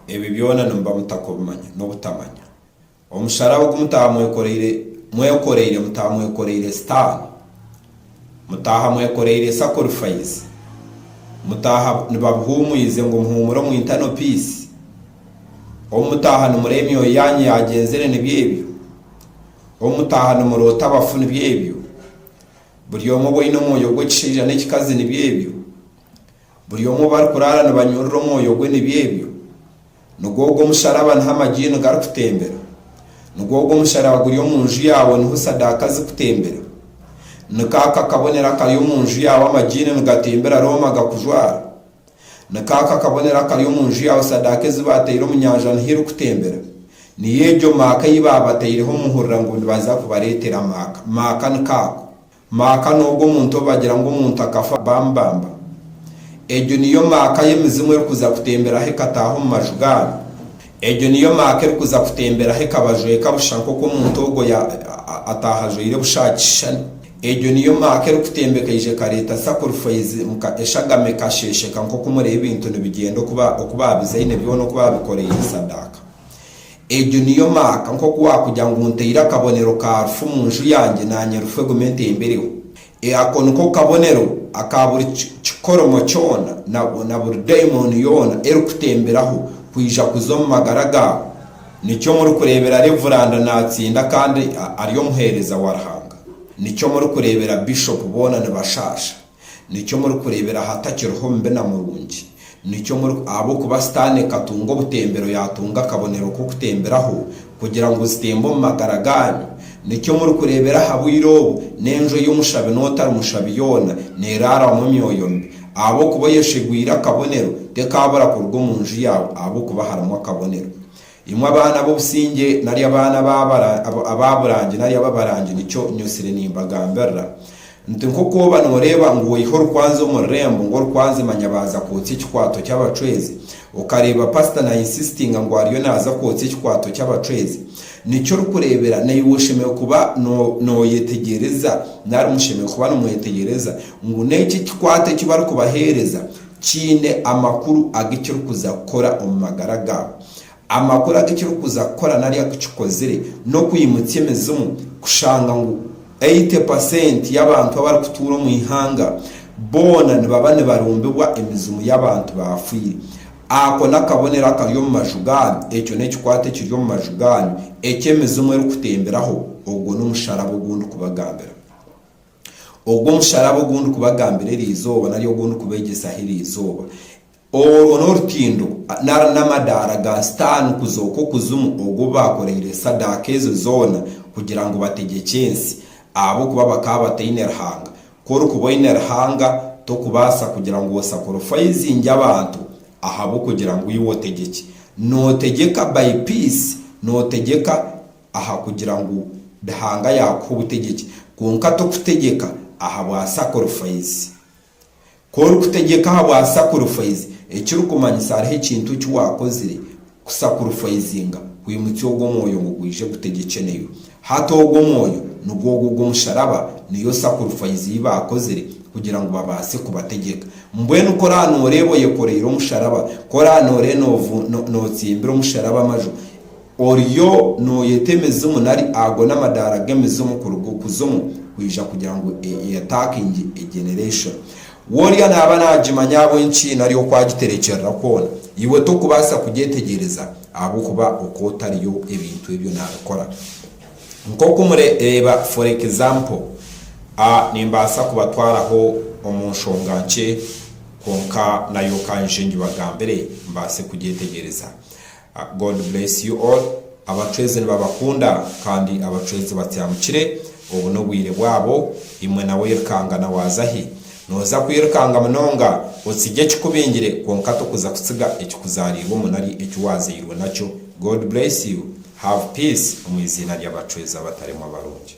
Ebi byona nimuba mutakubimanya, n'obutamanya. Omusharaba ogu mutaaha mwekoreire, mwekoreire, mutaaha mwekoreire Sitaane. Mutaaha mwekoreire sakorifaizi. Mutaaha nibabuhuumwize ngu muhuumure omu internal peace. Ou mutaaha nimureeba emyoyo yaanyu yaagyenzire nibyo ebyo. Ou mutaaha nimuroota abafu nibyo ebyo. Buri omwe ou aine omwoyo gw'ekishaija n'ekikazi nibyo ebyo. Buri omwe ou barikuraara nibanyurura omwoyo gwe nibyo ebyo. Nigwo ogwo omusharaba niho amajiini garikutembera. Nigwo ogwo omusharaba guri omu nju yaawe niho sadaaka zikutembera. Ni kaako akabonero akari omu nju yaawe amajiini nigatembera Rooma gakujwara. Ni kaako akabonero akari omu nju yaawe sadaaka ezi baataire omu nyanja niho irikutembera. Niyo egyo maaka ei baabataireho muhurira ngu nibaza kubareetera maaka. Maaka ni kaako. Maaka n'ogu omuntu ou bagira ngu omuntu akafa baamubamba. Egyo niyo maaka y'emizimu erikuza kutemberaho ekataaha omu maju gaayo. Egyo niyo maaka erikuza kutemberaho ekabajweka busha nk'oku omuntu ogwo ya, a, ataaha ajwaire busha aha kishushani. Egyo niyo maaka erikutembeka eija ekareeta sakurifaizi nka eshagama ekasheesheka nk'oku mureba ebintu nibigyenda oku ba, oku baabizaine byona oku baabikoreire sadaaka. Egyo niyo maaka, nk'oku waakugira ngu ntaire akabonero ka rufu mu nju yangye naanye rufu egume entembereho. E Ako niko kabonero aka buri kikoromo kyona na na buri daimooni yoona erikutemberaho kwija kuza omu magara gaawe. Nikyo murikureebera Reevuranda naatsinda kandi ari omuheereza wa Ruhanga. Nikyo murikureebera Bishopu boona nibashaasha. Nikyo murikureebera ahatakiriho mubi na murungi, nikyo muri, ahabw'okuba Sitaane ekatunga obutembero yaatunga akabonero k'okutemberaho, kugira ngu zitembe omu magara gaanyu. Nikyo murikureebera aha bwire obu, n'enju ey'omushabi n'otari mushabi yoona neeraarwamu emyoyo mibi. Ahabw'okuba oyeshegwire akabonero, tekaabura kuruga omu nju yaawe, ahabw'okuba harimu akabonero. Imwe abaana b'obusingye nari abaana aba burangi nari ab'abarangi, nikyo nyosire nimbagambirira nti, Nk'oku oba nooreeba ngu oiha orukwanzi omu rurembo ngu orukwanzi manya baaza kwotsa ekikwato ky'abacwezi, okareeba pasita na insistinga ngu ariyo naaza kwotsa ekikwato ky'abacwezi, nikyo orikureebera naiwe oshemereire kuba nooyetegyereza nari mushemereire kuba nimwetegyereza ngu n'eki ekikwato eki barikubaheereza, Kiine amakuru agu kirikuza kukora omu magara gaabo. Amakuru agu kirikuza kukora nari aku kikozire n'okwimutsya emizimu kushanga ngu eighty percent y'abantu abarikutuura omu ihanga boona nibaba nibarumbibwa emizimu y'abantu baafwire. Ako n'akabonero akari omu maju gaanyu, ekyo n'ekikwate ekiri omu maju gaanyu eki emizimu erikutemberaho, ogwo n'omusharaba ogu ndikubagambira. Ogwo musharaba ogu ndikubagambira eri izooba nari ogu ndikubeegyesaho eri izooba, orwo n'orutindo nari n'amadaara ga Sitaane kuzooka okuzimu ogu baakoreire esadaaka ezo zoona kugira ngu bategyekye ensi, ahabw'okuba bakaba bataine Ruhanga. Ku orikuba oine Ruhanga, tokubaasa kugira ngu osakurifayizingye abantu ahabw'okugira ngu iwe otegyekye. Nootegyeka by peace, nootegyeka aha kugira ngu Ruhanga yaakuha obutegyeki, kwonka t'okutegyeka ahabwa sakurifaizi. Ku orikutegyeka ahabwa sakurifaizi, ekirikumanyisa hariho ekintu eki waakozire kusakurifaizinga kwimutsya ogwo mwoyo ngu gwije gutegyekye naiwe. Hati ogwo mwoyo nigwo ogwo ogw'omusharaba, niyo sakurifaizi ei baakozire kugira ngu babaase kubategyeka. Mbwenu ku oraabe nooreeba oyekoreire omusharaba, ku oraabe nooreeba nootsimbira omusharaba amaju, Oriyo nooyeta emizimu nari ago n'amadaara g'emizimu kuruga okuzimu kwija kugira ngu eyataakingye egeneration. Wooria naaba naagimanya ahabw'enki nari oku agiterekyerera kwona, iwe tokubaasa kugyetegyereza ahabw'okuba oku otariyo ebintu ebyo naabikora. Nk'oku mure, reeba for example, a nimbaasa kubatwaraho omu nshonga nkye kwonka nayo ka nje ngibagambire mbaase kugyetegyereza. God bless you all abacwezi nibabakunda kandi abacwezi batyamukire obu nobwire bwabo imwe nawe oyirukangana wazahi noza kwirukanga munonga otsigye ekikubingire kwonka tokuza kutsiga ekikuzarirwemu nari ekiwazairwe nakyo God bless you have peace omu iziina ryabacwezi abataremwa abarungi.